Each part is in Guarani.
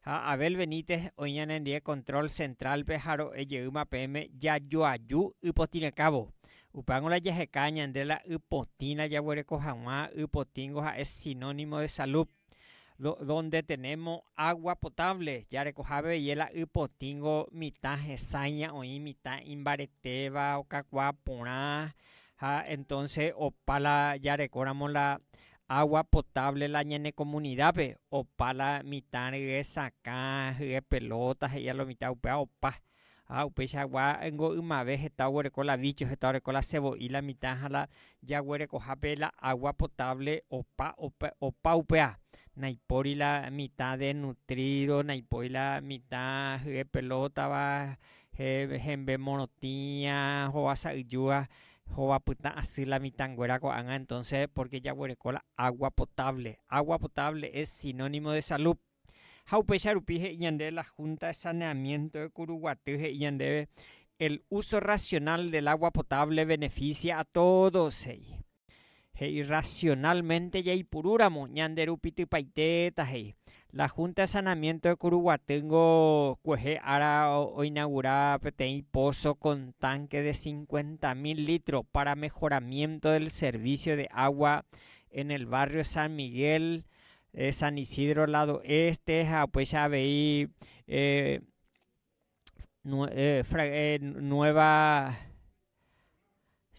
Ha Abel Benítez oĩ ñanendie control central-pe ha ro'e jeýma peẽme jajoaju ypotĩrekãvo. Upángo la jaheka ñande la ypotĩla jaguereko hag̃ua, ypotĩngo ha'e sinónimo de salud. Do, donde tenemo agua potable, jarekohápe veie la ypotĩngo mitã hesãiña oĩ, mitã imbaretéva, okakuaa porã, ha entonce opa la jarekóramo la Agua potable la ñane comunidape opa la mitã rye sakã hye pelota he'ia lo mitã upea opa ha upeicha gua ngo ymave heta oguereko la bicho heta oreko la sevo'i la mitã ha la jaguerekohape la agua potable opa opa upea naipori la mitã de nutrido naipoi la mitã hye pelota va hembe morotĩa hova sa'yjúa Jehova pytã asy la mitãnguéra ko'ág̃a entonce porque jaguereko la agua potable. Agua potable es sinónimo de salud. Ha upéicha rupi he'i ñande la Junta de Saneamiento de Curuguaty he'i ñandéve el uso racional del agua potable beneficia a todos he'i. He'i racionalmente jaipuru ramo ñande rupi typaite ta he'i. La Junta de Sanamiento de Curuguatyngo kuehe ára oinagura peteĩ pozo con tanque de cincuenta mil litros para mejoramiento del servicio de agua en el barrio San Miguel de San Isidro lado este ha upéicha avei eh, fra, eh, nueva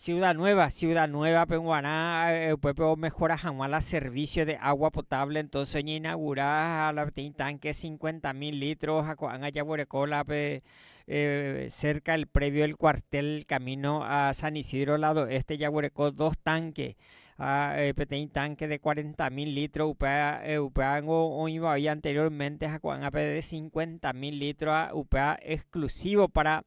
ciudad nueva, ciudad nueva pe guarã eh, upépe omejora hag̃ua la servicio de agua potable, entonce oñeinaugura la peteĩ tanque cincuenta mil litros ha ko'ág̃a jaguereko la pe eh, cerca el predio del cuartel camino a San Isidro lado este jaguereko dos tanque ha peteĩ tánke de cuarenta mil lítro upe upévango oĩva oĩ anteriórmente ha ko'ág̃ape de cincuenta mil lítro upéva exclusivo pára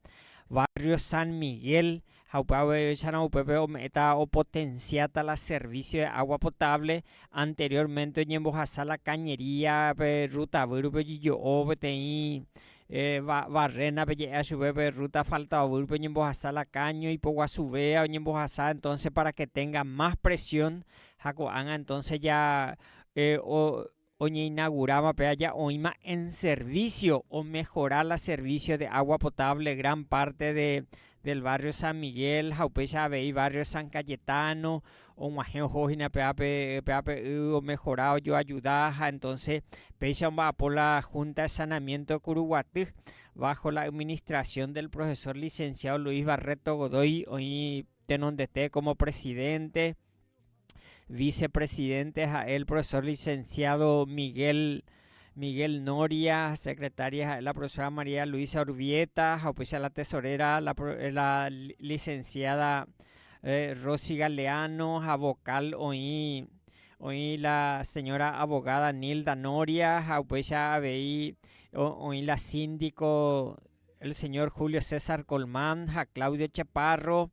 barrio San Miguel ha upe aveichárõ upépe ome'ẽta opotensiáta la servicio de agua potable anteriórmente oñembohasa la cañería-pe Rutavýrupi ojejo'o peteĩ Barréna pe je'éa chupe pe rúta asfaltoavýrpe oñembohasa la káño ipoguasuvea oñembohasa entónse pára ke ténga más presión ha ko'ág̃a entónse ja oñeinaguráva pe aja oĩma en servísio omehora la servísio de água potable gran párte del barrio San Miguel ha upéicha avei barrio San Cayetano, og̃uahẽ oho hína peápe, peápe y omejora, ojoajuda ha entonce péicha omba'apo la Junta de Sanamiento Curuguaty bajo la administración del profesor licenciado Luis Barreto Godoy oĩ tenondete como presidente, vicepresidente ha'e el profesor licenciado Miguel Miguel Noria, secretaria ha'e la profesora María Luisa Urbieta, ha upéicha la tesorera la, la licenciada eh, Rosy Galeano, ha vocal oĩ oĩ la señora abogada Nilda Noria, ha upéicha avei oĩ la síndico El señor Julio César Colmán ha Claudio Chaparro,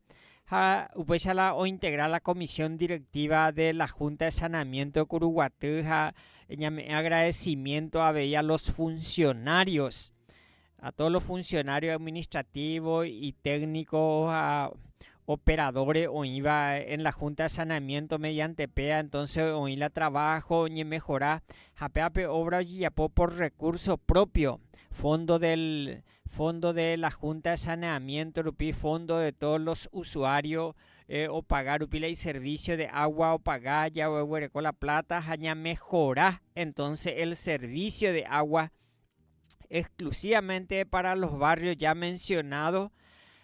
ha upéicha la ointegra la Comisión Directiva de la Junta de Saneamiento de Curuguaty ha ñame'ẽ agradecimiento avei a los funcionarios, a todos los funcionarios administrativos y técnicos ha operadore oĩva en la Junta de Saneamiento mediante péa entonce oĩ la trabajo oñemejora ha péva pe obra ojejapo por recurso propio, fondo del fondo de la Junta de Saneamiento rupi, fondo de todos los usuario opaga rupi la iservicio de agua opaga jagueguereko la plata ha ñamejora entonce el servicio de agua. exclusivamente para los barrios ya mencionados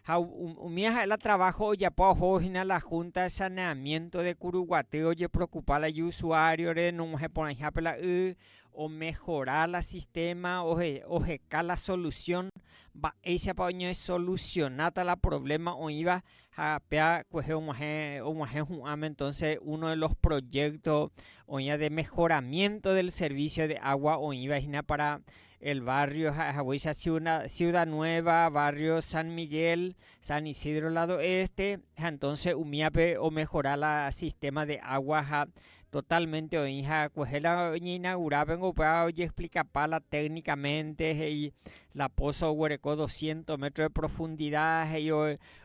ha umi ha'e la trabajo ojapo oho hína la Junta de Saneamiento de Curuguaty ojeprocupa la iusuario-re nog̃uahẽ porãihápe la y omejora la sistema, oheka la solución, mba'éichapa oñesolusionáta la problema oĩva Ha pea kuehe og̃uahẽ, og̃uahẽ hu'ãme entonce uno de los proyecto oĩva de mejoramiento del servicio de agua oĩva hína para el barrio ha'e haguéicha Ciudna, Ciudad Nueva, barrio San Miguel, San Isidro lado este, ha entonce umíape omejora la sistema de agua ha totalmente oĩ ha kuehe la oñeinagura pe upéva ojeexplikapa la técnicamente he'i la pozo oguereko doscientos metros de profundidad he'i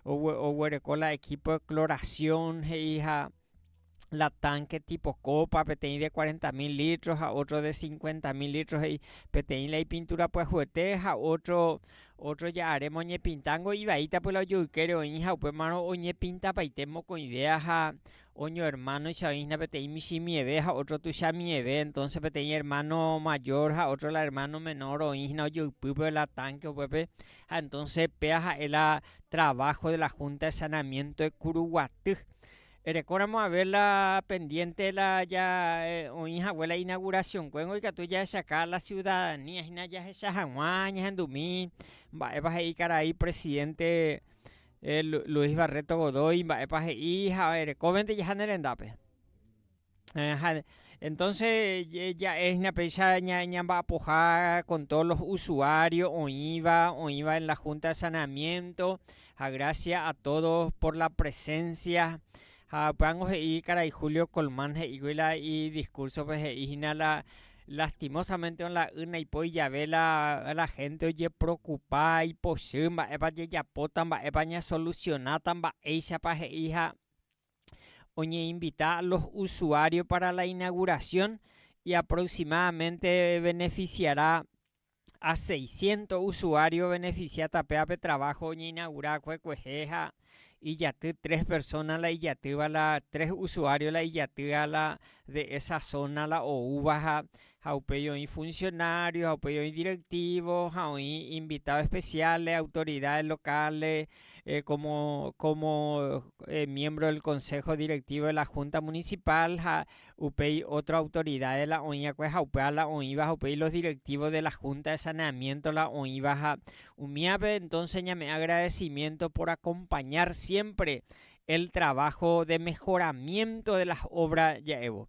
oguereko la equipo de cloración he'i ha la tanque tipo copa peteĩ de cuarenta mil litro ha otro de cincuenta mil litro he'i peteĩ la ipintura pyahuete ha otro otro ja'are moñepintángo ivaíta py la ojoykére oĩha upémarõ oñepintapaite mokõivéa ha oño hermanoicha oĩhína peteĩ michĩ mieve ha otro tuicha mieve entonce peteĩ hermano mayor ha otro la hermano menor oĩhína ojoypýpe la tanque upépe Ha entonces péa ha'e la trabajo de la Junta de Saneamiento de Curuguaty. Erekóramo haber la pendiente la ya eh, oĩ hague la inauguración kuéngo ikatu jahechaka la ciudadanía hina jahecha hag̃ua ñahendumi mba'épa he'i karai presidente eh, Luis Barreto Godoy mba'épa he'i ha erekóvente jaha ne rendápe. Aja, entonce ja'e hína péicha ñamba'apoha con todos los usuarios oĩva, oĩva en la junta de saneamiento, ha gracias a todos por la presencia, ha upévango he'i karai Julio Colmán he'íkuri la idiscursope he'i hína la lastimosamente la y naipóri jave la, la gente ojeprokupa ipochy mba'épa jejapóta, mba'épa ñasolusionáta, mba'éichapa he'i ha oñeinvita a los usuarios para la inauguración y aproximadamente beneficiará a 600 usuarios beneficia tapéva pe trabajo oñeinaugura va'ekue kuehe ha ijaty tres persona la ijatýva la tres usuario la ijatýva la de esa zona la oúva ha ha upéi oĩ funcionario, ha upéi oĩ directivo, ha oĩ invitado especiales, autoridades locales, eh, como, como eh, miembro del consejo directivo de la junta municipal, ha upéi otro autoridades la oĩva'ekue, ha upéva la oĩva, ha upéi los directivos de la junta de saneamiento la oĩva, ha umívape entonces ñame'ẽ agradecimiento por acompañar siempre el trabajo de mejoramiento de las obras ja'évo.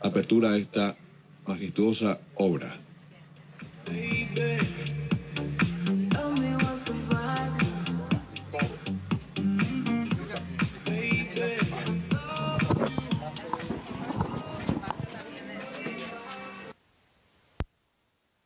apertúra a esta majestuósa óvra.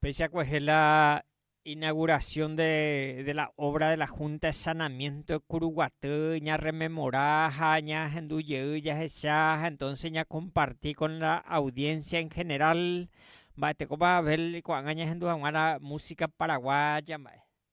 Péicha kuehe la inauguración de, de la obra de la Junta de Sanamiento de Curuguatí, ña rememora ha ña hendu jey ya hecha, entonces ña comparti con la audiencia en general, mba'etekópa Abel ko'ág̃a ña hendu haguã la música paraguaya mba'e.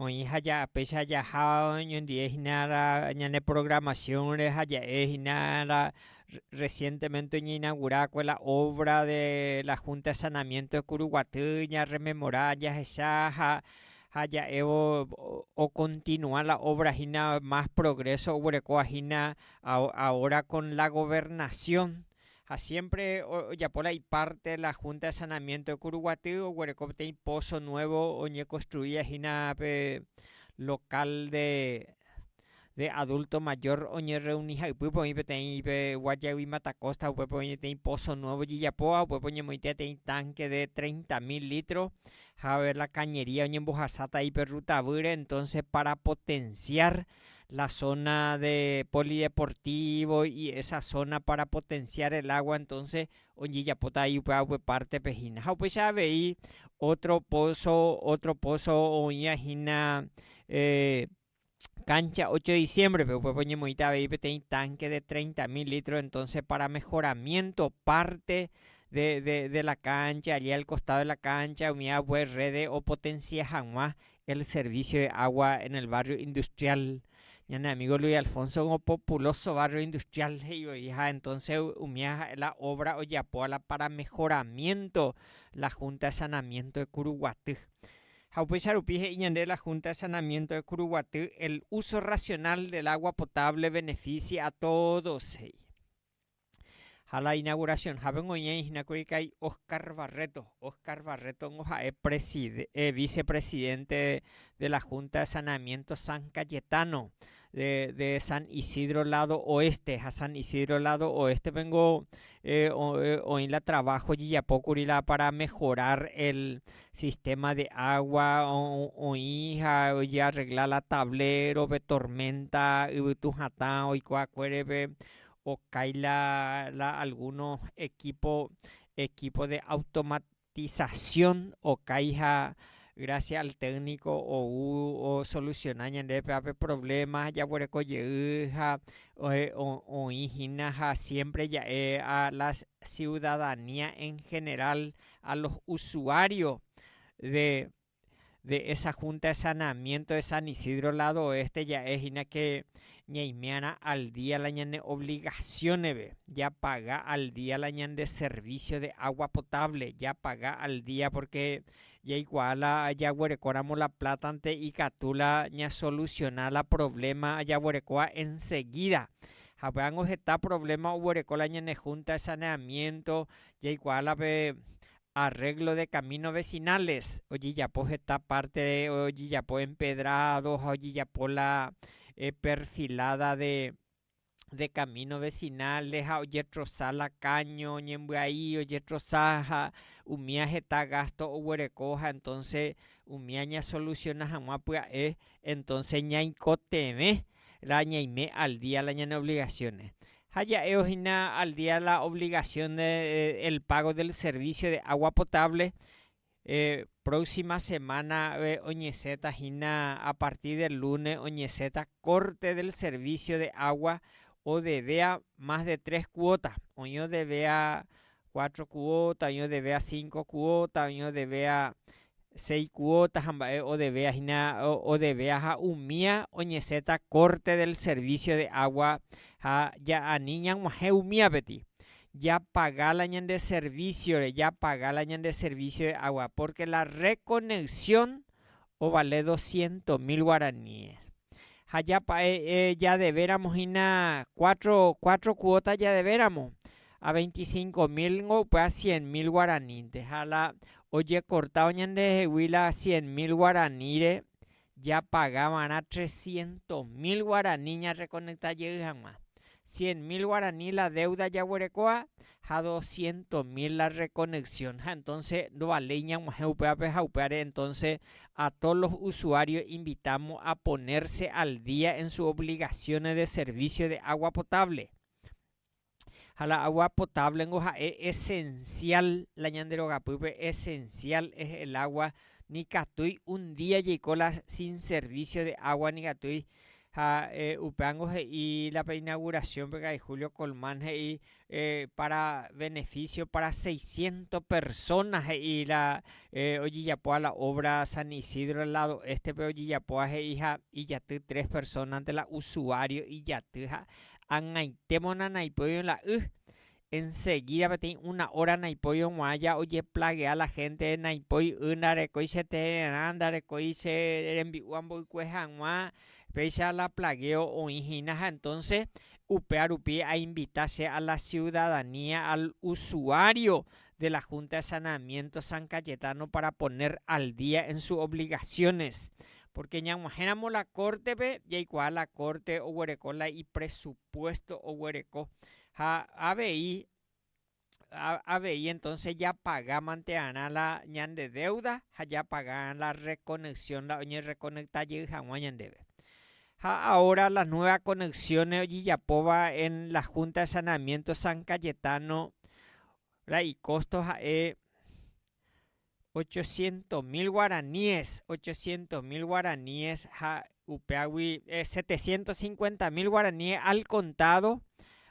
Oĩ ha ja'apéicha jaha oñondive hína ñane programación-re ha ja'e hína recientemente oñeinagura va'ekue la obra de la Junta de Sanamiento de Curuguaty ñarrememora jahecha ha ja'évo ocontinua la obra hína más progreso oguerekóva hína ahora con la Gobernación Ha siémpre ojapo la ipárte la Junta de Saneamiento de Curuguaty, oguereko peteĩ pózo nuévo oñekonstruía hína pe lokál de adulto mayor oñerreuni ha ypýpe oĩ peteĩ pe Guayaygui Mata Costa, upépe oĩ peteĩ pózo nuévo ojejapo ha upépe oñemoĩtía peteĩ tánke de treinta mil lítro. Ha la kañería oñembohasáta aí pe ruta avýre, entónse pára potensiar la zona de polideportivo y esa zona para potenciar el agua entonces ojejapota ahí upéva upe parte pe hína ha upéicha avei otro pozo otro pozo oĩva hína eh, cancha 8 de diciembre pe upépe oñemoĩta avei peteĩ tanque de 30 mil litros entonces para mejoramiento parte de, de, de la cancha allí al costado de la cancha umiva upépe rede o potencia hag̃ua El servicio de agua en el barrio industrial, ñane amigo Luis Alfonso ko populoso barrio industrial he'i voi ha entonces umía ha'e la obra ojeapo la para mejoramiento la junta de sanamiento de Curuguaty. Ha upéicha rupi he'i ñande la junta de sanamiento de Curuguaty el uso racional del agua potable beneficia a todos he'i. Ha la inauguración hague oñeĩ hína kuri ka'i Oscar Barreto. Oscar Barreto-ngo ha'e preside, vice presidente de la Junta de Saneamiento San Cayetano de, de San Isidro lado oeste. Ha San Isidro lado oeste-pengo oĩ la trabajo ojejapo kuri la para mejorar el sistema de agua, oĩ ha ojearregla la tablero pe tormenta yvytu hatã oikuaakuérepe, Okái la la alguno ekipo ekipo de automatizasión okái ha grásia al tékniko ou osolusiona ñandéve ápe provléma jaguereko jey ha oĩ hína ha siémpre ja'e a la siudadanía en general, a los usuarios de de esa Junta de Saneamiento de San Isidro lado oeste ja'e hína que ñaimiarã al día la ñane obligaciones-ve, japaga al día la ñande servicio de agua potable, japaga al día porque jaikuaa la jaguerekóramo la plata-nte ikatu la ñasoluciona la problema jaguerekóva enseguida. Havy'ángo heta problema oguereko la ñane Junta de Saneamiento, jaikuaa la pe Arréglo de kamíno vesináles, ojejapo heta párte ojejapo empedrádo ha ojejapo la perfiláda de kamíno vesináles ha ojetrosa la káño ñembyai, ojetrosa ha umía heta gásto oguereko ha entónse umía ñasolusiona hag̃ua pya'e. Entónse ñaikotevẽrõ ñaime aldía la ñane ovligasiónre. ha ja'évo hína al día la obligación de el pago del servicio de agua potable, próxima semana oñesẽta hína a partir del lunes oñesẽta corte del servicio de agua odevea más de tres cuota, oĩ odevea cuatro cuota, oĩ odevea cinco cuota, oĩ odevea seis cuota ha mba'e odevea hína odevea ha umía oñesẽta corte del servicio de agua ha ani ñag̃uahẽ umíapetĩ japaga la ñande servicio-re, japaga la ñande servicio de agua, porque la reconexión ovale dosciento mil guaraníes. Ha japa'e jadevéramo hína cuatro, cuatro cuota jadevéramo, a veinticinco mil ningo upe a cien mil guaranínte. Ha la ojecortávo ñandehegui la cien mil guaraníre japaga va'erã trescientos mil guarani ñarrekonekta jey hag̃ua. cien mil guarani la deuda jaguerekóva ha doscientos mil la reconexión. Ha entonces ndovaléi ñag̃uahẽ upévape ha upévare entonces a todos los usuarios invitamos a ponerse al día en sus obligaciones de servicio de agua potable. Ha la agua potable ningo ha'e esencial la ñande rogapýpe, esencial es el agua, nikatúi un día jeiko la sin servicio de agua nikatúi Ha upévango he'i la inauguración pe karai Julio Colmán he'i para beneficio para seiscientos personas he'i la ojejapóva la obra San Isidro del lado este-pe ojejapóva he'i ha ijaty tres personas-nte la usuario ijaty ha ag̃aitémona naipy oĩ la y Ensegída peteĩ una óra naipói oguãja ojeplagea la hénte, naipói y, ndarekói che tererã, ndarekói che rembi'u amboykue hag̃ua, péicha la plagueo oĩ hína ha entónse upéva rupi ainvita che a la siudadanía, al usuário de la Junta de Saneamiento San Cayetano para poner al día en sus obligaciones. Pórke ñag̃uahẽramo la Córtepe, jaikuaa la Córte oguereko la ipresupuésto oguereko. Ha avei, avei entonces japagámantearã la ñande deuda ha japagarã la reconexionda la oñerreconecta jey haguã ñandéve. Ha ahora las nuevas conexiones ojejapóva en la Junta de Saneamiento San Cayetano, la icosto ha'e ochocientos mil guaraníes, ochocientos mil guaraníes ha upeágui setecientos cincuenta mil guaraníes al contado,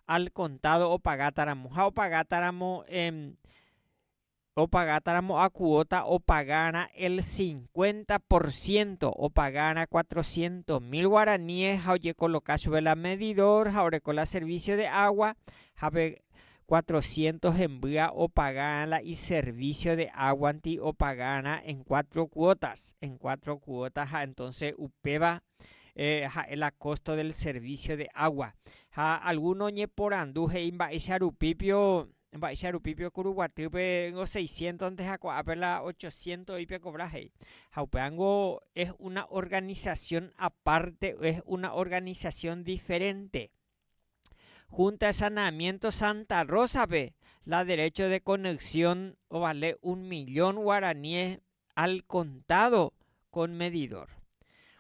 al contado opagátaramo. Ha opagátaramo, opagátaramo a cuota opagarã el cincuenta por ciento, opagarã cuatrocientos mil guaraníes ha ojekoloka chupe la medidor ha oreko la servicio de agua, ha pe Cuatrocientos hembýa opaga'ã la iservicio de águanti opaga'arã en cuatro cuotas, en cuatro cuota ha entonce upéva ha'e la costo del servicio de agua. Ha alguno oñeporandu he'i mba'éicha rupípio, mba'éicha rupípio Kuru Guatýpe ningo seiscientonte ha ko'ápe la ochociento'i pekovra he'i. Ha upéva ningo es una organización aparte, es una organización diferente. Junta de Saneamiento Santa Rosa-pe la derecho de conexión ovale un millón guaraníes al contado con medidor.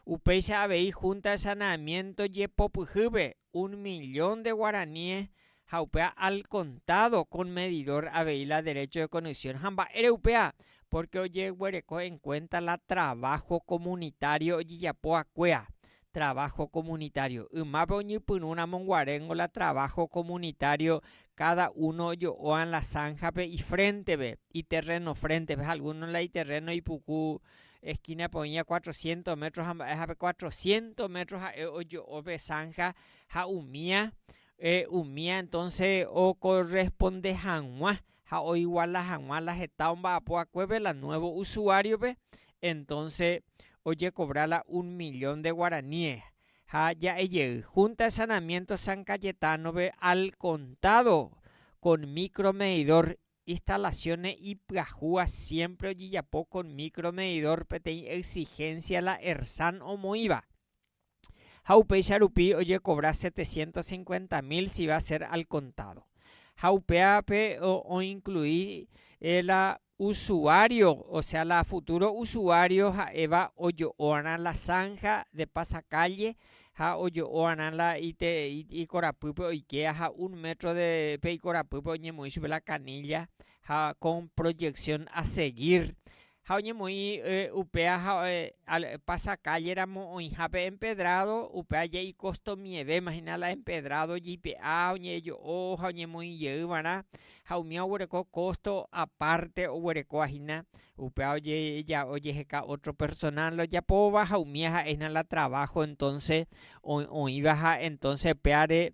Upéicha avei Junta de Saneamiento jepopyhýpe un millón de guaraníes ha upéva al contado con medidor avei la derecho de conexión. Ha mba'ére upéva? Porque ojeguereko en cuenta la trabajo comunitario ojejapo vakuéva. traváho komunitário. Ymápe oñepyrũ ramonguaréngo la traváho komunitário, káda uno ojo'óva la sánhape ifréntepe, iterréno fréntepe ha algúno la iterréno ipuku eskínape oĩva cuatrocientos métro ha mba'éhape, cuatrocientos métro ha'e ojo'o pe sánha ha umía, umía entónse okorresponde hag̃ua ha oiguala hag̃ua la heta omba'apo akuépe la nuevo usuario-pe, entonce ojekovra la un millón de guaraníes ha ja'e jey Junta de Saneamiento San Cayetano-pe al contado con micro medidor, instalaciones ipyahúva siempre ojejapo con micro medidor peteĩ exigencia la ERSAN omoĩva. ha upéicha rupi ojekovra setecientos cincuenta mil si va a ser al contado. Ha upévape oinclui la usuario, o sea la futuro usuario ha'éva ojo'oarã la zanja de pasa calle ha ojo'oarã la ikorapýpe oike ha un metro de pe ikorapýpe oñemoĩ chupe la canilla ha con proyección a seguir Ha oñemoĩ upéa ha pasa kálle ramo oĩha pe empedrádo, upéva jey ikostomivevéma hína la empedrádo jeipe'a ha oñe'ejo'o ha oñemoĩ jey va'erã, ha umíva oguereko kósto apárte oguerekóva hína, upéva ojeheka ótro personál ojapóva ha umíva ha'e hína la traváho entónse oĩva. Ha entónse upévare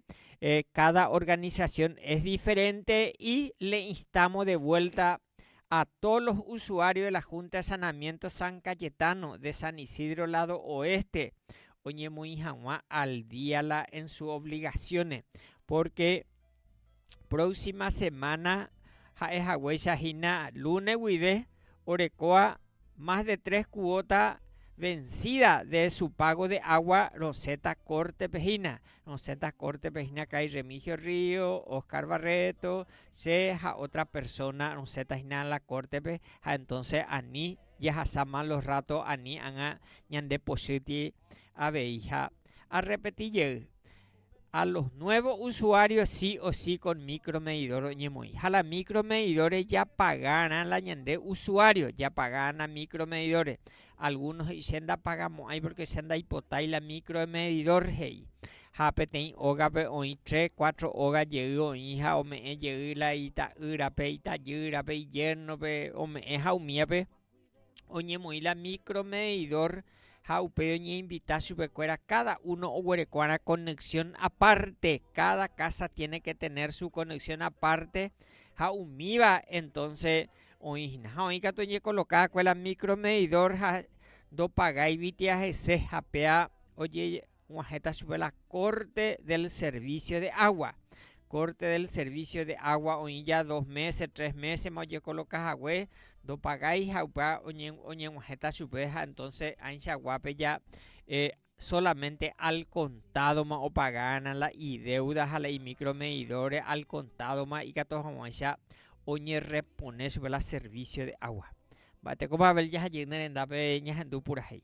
káda organisasión es diferente i le instámo de vuélta a todos los usuarios de la Junta de Saneamiento San Cayetano de San Isidro lado Oeste oñemoĩ hag̃ua al día la en sus obligaciones, porque próxima semana ha'e haguéicha hína lunes guive orekóva más de tres cuota vencida de su pago de agua rosẽta Corte-pe hína, rosẽta Corte-pe hína karai Remigio Ríos, Oscar Barreto, Che ha ótra persóna rosẽta hína la kórtepe ha entónse ani jahasa málo rráto ani ág̃a ñandepochýti aveiha. Arrepeti jey, A los nuevos usuarios sí o sí con micromedidor oñemoĩ. Ha la micromedidores japagárã la ñande usuarios japagárã micromedidores. Algúno he'i, Che ndapagamo'ãi pórke che ndaipotái la míkro de medidór, he'i. Ha peteĩ ógape oĩ tre, kuátro óga jey oĩ ha ome'ẽ jey la ita'ýrape, itajýrape, ijérnope, ome'ẽ ha umíape oñemoĩ la míkro medidór ha upéi oñeinvita chupekuéra káda uno oguerekova'erã konexxión apárte. Káda kása tiene ke tener su konexxión apárte ha umíva entónse Oĩ hína ha oĩ katu ojekoloka va'ekue la micromedidor ha ndopagáigui tía hese ha péa ojeguahẽta chupe la corte del servicio de agua. Corte del servicio de agua oĩ ja dos meses, tres meses ma ojekoloka hague ndopagái ha upéva oñeguahẽta chupe ha entonces ãicha guápe ja Solamente al contado-ma opagána la idéuda ha la imicromedidor-re al contado-ma ikatu hag̃uáicha oñerrepone chupe la servicio de agua. Mba'etekópa Abel jahajey ne rendápe ñahendu purahéi.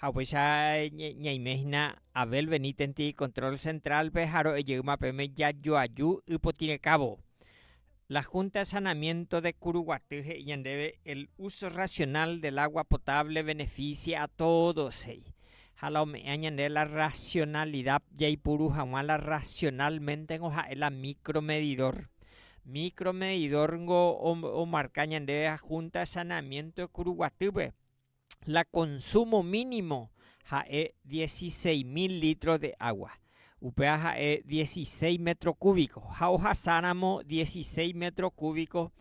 Ha upéicha ñaime hína Abel Benítez-nte Control Central-pe ha ro'e jeýma peẽme jajoaju ypotĩrekávo. La Junta de Saneamiento de Curuguaty he'i ñandéve el uso racional del agua potable beneficia a todos he'i, ha la ome'ẽa ñande la racionalidad jaipuru hag̃ua la racionalmente-ngo ha'e la micro medidor. Micro medidor-ngo omarka ñandéve la Junta de Saneamiento de Curuguaty-pe. la consumo mínimo ha'e dieciséis mil litros de agua, upéva ha'e dieciséis metro cúbico, ha ohasáramo dieciséis metro cúbico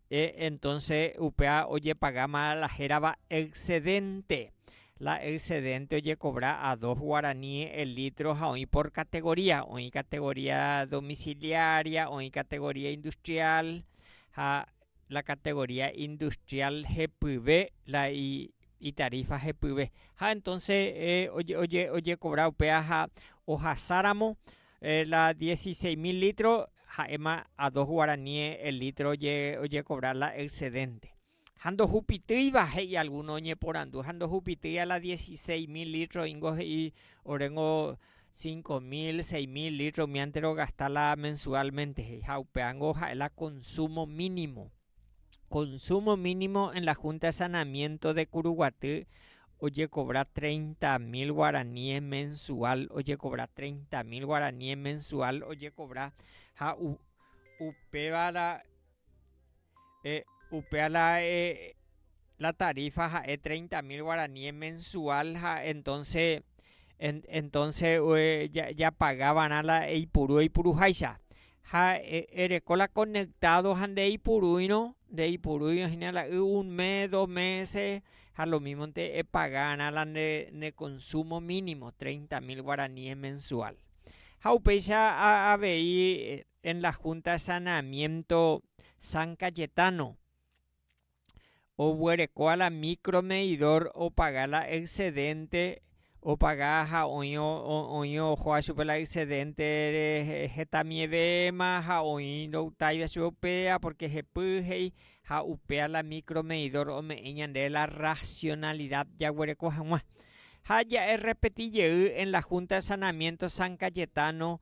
entonce upéva ojepagáma la hérava excedente, la excedente ojecovra a dos guarani el litro ha oĩ por categoría, oĩ categoría domiciliaria, oĩ categoría industrial ha la categoría industrial jepyve la itarífa jepyve ha entonce ojekobra upéva ha ohasáramo la dieciseis mil litro ha'éma a dos guarani el litro ojekobra la excedente ha ndohupitýiva he'i alguno oñeporandu ha ndohupitýiva la dieciseis mil litro ingo he'i oréngo Cinco mil, seis mil litro umiánte rogasta la mensualmente he'i ha upeángo ha'e la consumo mínimo. Consumo mínimo en la Junta de Saneamiento de Curuguaty ojecobra treinta mil guaraníes mensual, ojecobra treinta mil guaraníes mensual ojecobra ha upévara Eh, upéva la eh, la tarifa ha'e treinta mil guaraníes mensual ha entonce, en, entonce eh, japaga va'erã la eipuru eipuruháicha. Ha eh, ereko la conectado ha ndeipurúirõ, ndeipurúirõ hína la y un mes, dos meses, ha lo mismonte epaga va'erã la ne, ne consumo mínimo, treinta mil guaraníes mensual. Ha upéicha avei. En la Junta de Saneamiento San Cayetano, oguerekóva la micro medidor opaga la excedente opaga ha oĩ oĩ ohóva chupe la excedente hetamivevéma ha oĩ ndoutaiva chupe upéva porque jepy he'i ha upéva la micro medidor ome'ẽ ñandéve la racionalidad jaguereko hag̃ua ha ja'e repeti jey en la Junta de Saneamiento San Cayetano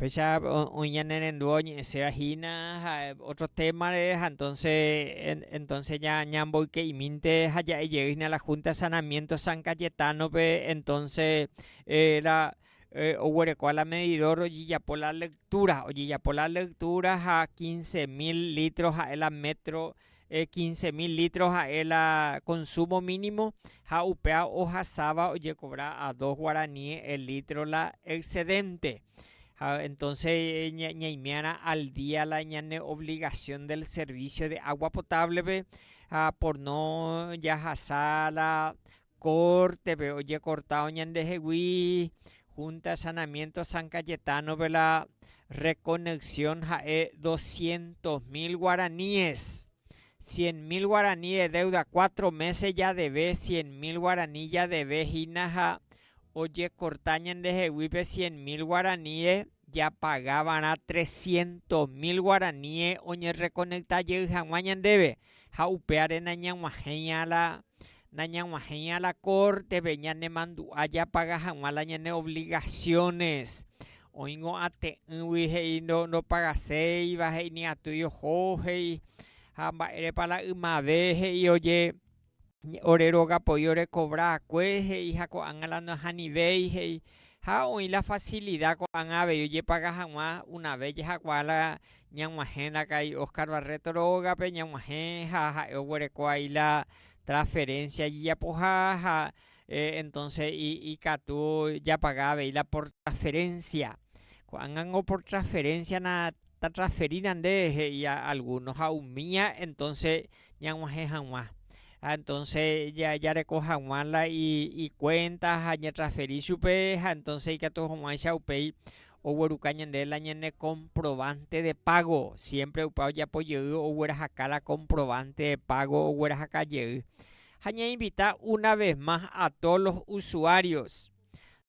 Fecha oĩ ñane rendu oñe'ẽséva hína ha ótro témare, ha entónse, entónse ñamboyke'imínte ha ja'e jey hína la Húnta de Sanamiénto San Kayetánope, entónse la oguerekóva la medidór ojejapo la lektúra, ojejapo la lektúra ha kinse mil lítro ha'e la métro quince mil litros ha'e la consumo mínimo ha upéva ohasáva ojekovra a dos guaraní el litro la excedente. Ha entonce ñaimiarã al día la ñane obligación del servicio de agua potable-pe ha por no jahasa la Kórtepe ojekortávo ñandehegui Junta de Saneamiento San Cayetano-pe la reconexxion ha'e doscientos mil guaraníes, cien mil guaraní de deuda, cuatro meses jadeve cien mil guaraní jadeve hína ha ojekorta ñandeheguípe cien mil guaraníe japaga va'erã trescientos mil guaraníe oñerrekonekta jey hag̃ua ñandéve ha upévare nañag̃uahẽiha la nañag̃uahẽiha la kórtepe ñanemandu'a japaga hag̃ua la ñane ovligasiónes. Oĩngo ate'ỹgui he'i ndopagaséiva, he'i ni atýi oho, he'i ha mba'érepa la ymave he'i oje ore róga poi orekovra va'ekue, he'i ha ko'ág̃a la ndohanivéi, he'i ha oĩ la fasilida ko'ág̃a avei ojepaga hag̃ua una vé jahakuaa la Ñag̃uahẽna ka'i Oscar Barreto rógape, ñag̃uahẽ ha ha'e oguereko ai la transferencia ijapoha ha entonce ikatu japaga avei la por transferencia. Ko'ág̃ango por transferencia-na tatransferína nde, he'i alguno ha umía entonce ñag̃uahẽ hag̃ua. Ha entonce jareko hag̃ua la ikuénta ha ñatransferi chupe ha entonce ikatu hag̃uáicha upéi ogueruka ñande la ñane comprobante de pago, siempre opa ojapo jey oguerahaka la comprobante de pago oguerahaka jey. Ha ña invita una vez más a todos los usuarios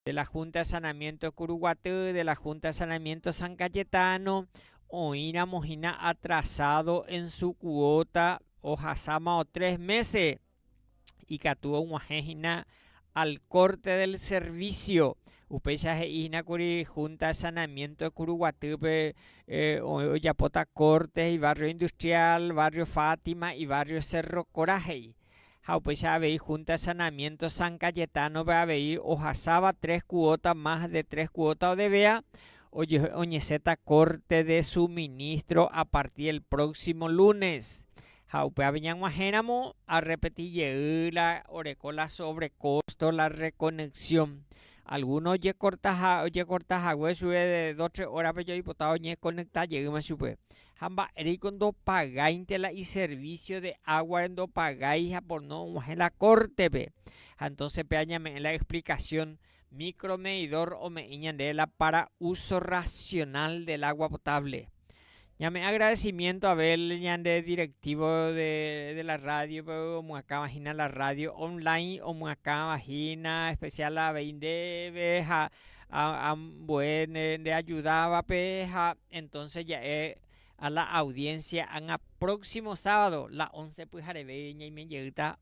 de la Junta de Sanamiento Curuguaty, de la Junta de Sanamiento San Cayetano, oĩramo hína atrasado en su cuota ohasámao tres meses, ikatu og̃uahẽ hína al corte del servicio, upéicha he'i hína kuri Junta de Saneamiento de Kuruguatýpe ojapóta corte ibarrio industrial, barrio Fátima, ibarrio Cerro Corá he'i. Ha upéicha avei Junta de Saneamiento San Cayetano-pe avei ohasáva tres cuota más de tres cuota odevea oñesẽta corte de suministro a partir del próximo lunes. Ha upévape ñag̃uahẽramo arrepeti jey la oreko la sobrekosto, la rekonexxión. Algúno ojekorta ha ojekorta hague chupe de dos tres órape jaipota oñekonekta jeýma chupe. Ha mba'éreiko ndopagáinte la iservísio de águare ndopagái ha por no og̃uahẽ la kórtepe. Ha entónse péva ñame'ẽ la explikasión Micromedidor ome'ẽ ñande la para uso racional del agua potable. Ñame agradecimiento Abel ñande directivo de la radio pe omyakãva hína la radio online omyakãva hína especial avei ndéve ha ambue nde ayudavape ha entonce ja'e a la audiencia ág̃a próximo sábado la once pyhareve ñaime jeýta